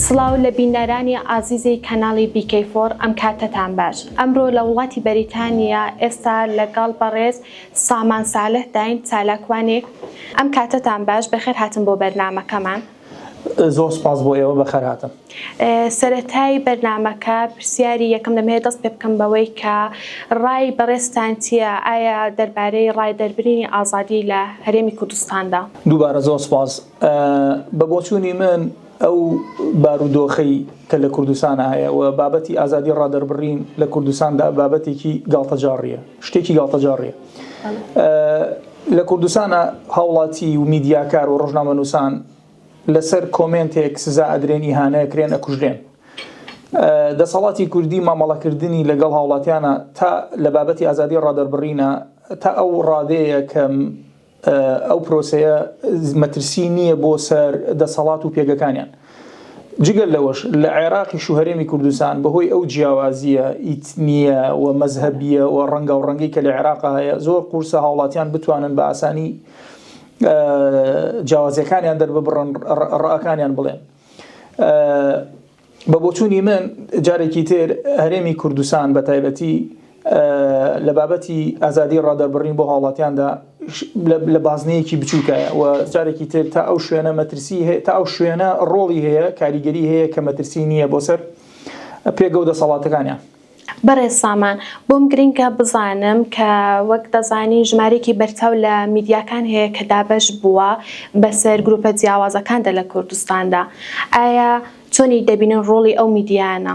سڵاو لە بینەرانی ئازیزی کەناڵی BK فۆر ئەم کاتەتان باش ئەمرۆ لە وڵاتی بەریتانیا ئێستا لەگەڵ بەڕێز سامان سالح داین چالاکوانێک ئەم کاتەتان باش بەخێر هاتن بۆ بەرنامەکەمان. زۆر سوپاس بۆ ئێوە بەخێر هاتن. سەرەتای بەرنامەکە پرسیاری یەکەم دەم هەوێ دەست پێ بکەم بەوەی کە ڕای بەڕێزتان چیە ئایا دەربارەی ڕای دەربرینی ئازادی لە هەرێمی کوردستاندا؟ دووبارە زۆر سوپاس. بە بۆچوونی من ئەو بارودۆخەی کە لە کوردستان هەیە و بابەتی ئازادی ڕادەربڕین لە کوردستاندا بابەتێکی گاڵتەجاڕیە، شتێکی گاڵتەجاڕیە. لە کوردستانە هاوڵاتی و میدیاکار و ڕژنامە نووسان لەسەر کۆمنتێک سزا ئەدرێن ئیهانەیە کرێن ئەکوژرێن دەسەڵاتی کوردی مامەڵەکردنی لەگەڵ هاوڵاتیانە تا لە بابەتی ئازادی ڕادەربڕینە تا ئەو ڕادەیە کە ئەو پرۆسەیە مەترسی نییە بۆ سەر دەسەڵات و پێگەکانیان جگە لەوەش لە عێراقیش و هەرێمی کوردستان بەهۆی ئەو جیاوازییە ئیتنییە و مەزهەبییە و ڕەنگاوڕەنگەی کە لە عێراقا هەیە، زۆر قورسە هاوڵاتیان بتوانن بە ئاسانی جیاوازییەکانیان دەرببڕن، ڕەئەکانیان بڵێن. بە بۆچوونی من جارێکی تر هەرێمی کوردستان بە تایبەتی، لە بابەتی ئازادی ڕادەربڕین بۆ هاوڵاتیاندا لە بازنەیەکی بچووکایە و جارێکی تر تا ئەو شوێنە مەترسی هەیە تا ئەو شوێنە ڕۆڵی هەیە کاریگەری هەیە کە مەترسی نییە بۆ سەر پێگە و دەسەڵاتەکانیان. بەڕێز سامان، بۆم گرنگە بزانم کە وەک دەزانین ژمارەیەکی بەرچاو لە میدیاکان هەیە کە دابەش بووە بەسەر گرووپە جیاوازەکاندا لە کوردستاندا، ئایا چۆنی دەبینن ڕۆڵی ئەو میدیایانە؟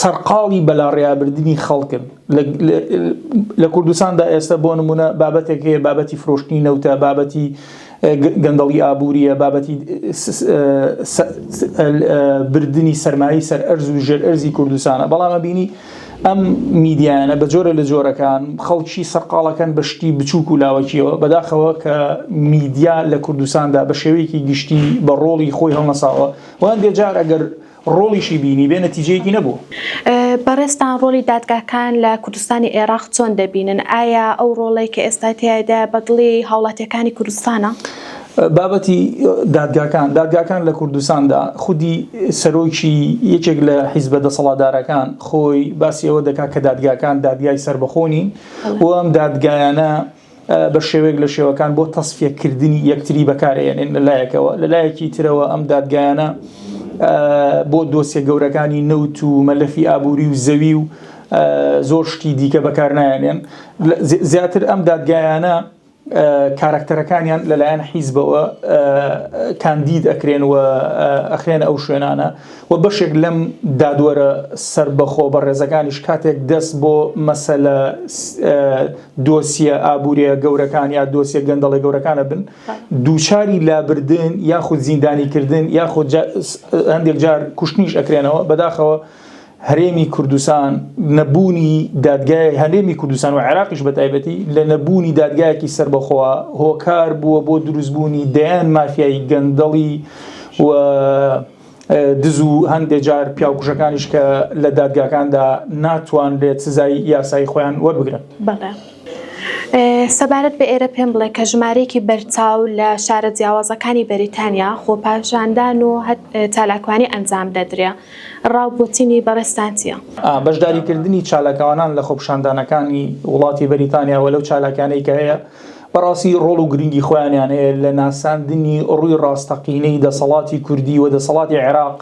سەرقاڵی بەلاڕێیابردنی خەڵکن لە کوردستاندا ئێستا بۆ نمونە بابەتێک هەیە بابەتی فرۆشتنی نەوتە بابەتی گەندەڵی ئابووریە بابەتی بردننی سەرمایی سەر ئەرز و ژێر ئەرزی کوردستانە بەڵامە بینی ئەم میدیانە بە جۆرە لە جۆرەکان خەڵکی سەرقاڵەکەن بە شتی بچووک و لاوەکیەوە بەداخەوە کە میدیا لە کوردستاندا بە شێوەیەکی گشتی بە ڕۆڵی خۆی هەڵنەساوە وهەندێ جار ئەگەر ڕۆڵیشی بینیبێ نەتیجەیەکی نەبووە. بەڕێزتان ڕۆڵی دادگاکان لە کوردستانی ئێراق چۆن دەبینن؟ ئایا ئەو ڕۆڵەی کە ئێستا تیایدایە بە دڵی هاوڵاتییەکانی کوردستانە؟ بابەتی دادگاکان، دادگاکان لە کوردستاندا خودی سەرۆکی یەکێک لە حیزبە دەسەڵاتدارەکان خۆی باسی ئەوە دەکات کە دادگاکان دادگای سەربەخۆ نین و ئەم دادگایانە بە شێوەیەک لە شێوەکان بۆ تەسفیەکردنی یەکتری بەکارێنێن لە لایەکەوە لە لایەکی ترەوە ئەم دادگایانە بۆ دۆسیە گەورەکانی نەوت و مەلەفی ئابووری و زەوی و زۆر شتی دیکە بەکارنایەنێن زیاتر ئەم دادگایانە کارکتەرەکانیان لەلایەن حیزبەوە کاندید ئەکرێن و ئەخرێن ئەو شوێنانە و بەشێک لەم دادوەرە سربەخۆ بە ڕێزەکانیش کاتێک دەست بۆ مەسەلە دۆسیە ئابووریە گەورەکان یا دۆسیە گەندەڵی گەورەکانە بن دووچاری لابردن یاخود زیندانیکردن یاخود هەندێک جار کوشتنیش ئەکرێنەوە بەداخەوە هەرێمی کوردستان نەبوونی دادگای هەرێمی کوردستان و عێراقیش بە تایبەتی لە نەبوونی دادگایەکی سربەخۆوە هۆکار بووە بۆ دروستبوونی دەیان مافیایی گەندەڵی و دز و هەندێ جار پیاوکوژەکانیش کە لە دادگاکاندا ناتوانرێت سزای یاسایی خۆیان وەربگرن. بەڵێ. سەبارەت بە ئێرە پێم بڵێ کە ژمارەیەکی بەرچاو لە شارە جیاوازەکانی بەریتانیا خۆپاشاندان و چالاکوانی ئەنجام دەدرێ، ڕا و بۆچینی بەڕێزتان چییە؟ ئا. بەشداریکردنی چالاکوانان لە خۆپشاندانەکانی وڵاتی بەریتانیا و لەو چالاکیانەی کە هەیە، بەڕاستی ڕۆڵ و گرنگی خۆیانیان هەیە لە ناساندنی ڕووی ڕاستەقینەی دەسەڵاتی کوردی و دەسەڵاتی عێراق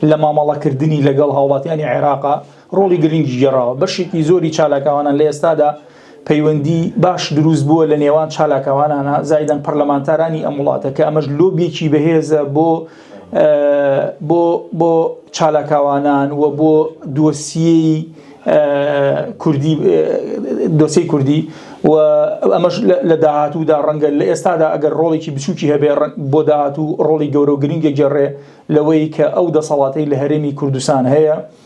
لە مامەڵەکردنی لەگەڵ هاوڵاتیانی عێراقا ڕۆڵی گرنگی گێڕاوە بەشێکی زۆری چالاکاوانان لە ئێستادا پەیوەندی باش دروست بووە لە نێوان چالاکاوانانە زایدەن پەرلەمانتارانی ئەم وڵاتە کە ئەمەش لۆبیەکی بەهێزە بۆ بۆ بۆ چالاکاوانان و بۆ دۆسیی کوردی دۆسی کوردی و ئەمەش لە داهاتوودا ڕەنگە لە ئێستادا ئەگەر ڕۆڵێکی بچووکی هەبێ بۆ داهاتوو ڕۆڵی گەورە و گرنگێک گەڕێ لەوەی کە ئەو دەسەڵاتی لە هەرێمی کوردستان هەیە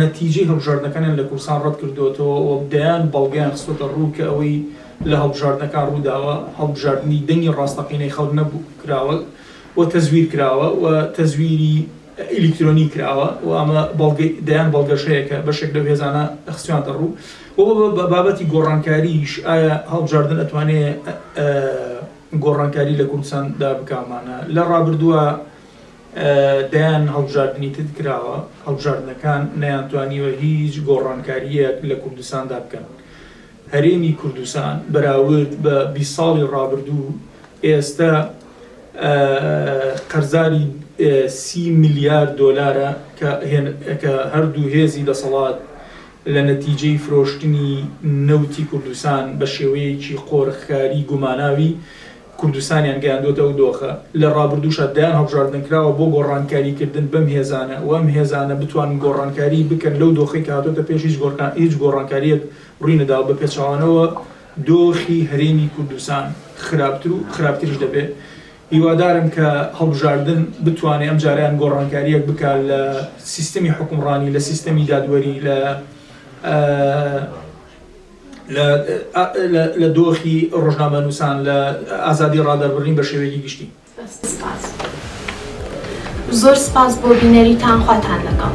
نەتیجەی هەڵبژاردنەکانیان لە کوردستان ڕەتکردووەتەوە و دەیان بەڵگەیان خستووەتە ڕوو کە ئەوەی لە هەڵبژاردنەکان ڕووداوە هەڵبژاردنی دەنگی ڕاستەقینەی خەڵک نەبوو کراوە و تەزویر کراوە و تەزویری ئەلیکترۆنی کراوە و ئەمە بەڵگەی دەیان بەڵگەش هەیە کە بەشێک لەو هێزانە خستوویانتە ڕوو و بە بابەتی گۆڕانکاریش ئایا هەڵبژاردن ئەتوانێ گۆڕانکاری لە کوردستان دا بکا مانە لە ڕابردووە دەیان هەڵبژاردنی تد کراوە، هەڵبژاردنەکان نەیانتوانیوە هیچ گۆڕانکارییەک لە کوردستاندا بکەن. هەرێمی کوردستان بەراورد بە بیست ساڵی ڕابردوو ئێستە قەرزاری سی ملیار دۆلارە کە هەردوو هێزی دەسەڵات لە نەتیجەی فرۆشتنی نەوتی کوردستان بە شێوەیەکی قۆرخکاری گوماناوی کوردستانیان گەیاندووەتە ئەو دۆخە، لە ڕابردووشا دەیان هەڵبژاردن کراوە بۆ گۆڕانکاریکردن بەم هێزانە و ئەم هێزانە بتوانن گۆڕانکاری بکەن لەو دۆخەی کە هاتۆتە پێش هیچ هیچ گۆڕانکارییەک ڕووی نەداوە بە پێچەوانەوە دۆخی هەرێمی کوردستان خراپتر و خراپتریش دەبێ هیوادارم کە هەڵبژاردن بتوانێ ئەم جارەیان گۆڕانکارییەک بکا لە سیستمی حوکمڕانی لە سیستەمی دادوەری لە لە دۆخی ڕۆژنامەنووسان، لە ئازادی ڕادەربڕین بە شێوەیەکی گشتی. سپاس. زۆر سپاس بۆ بینەریتان خواتان لەگەڵ.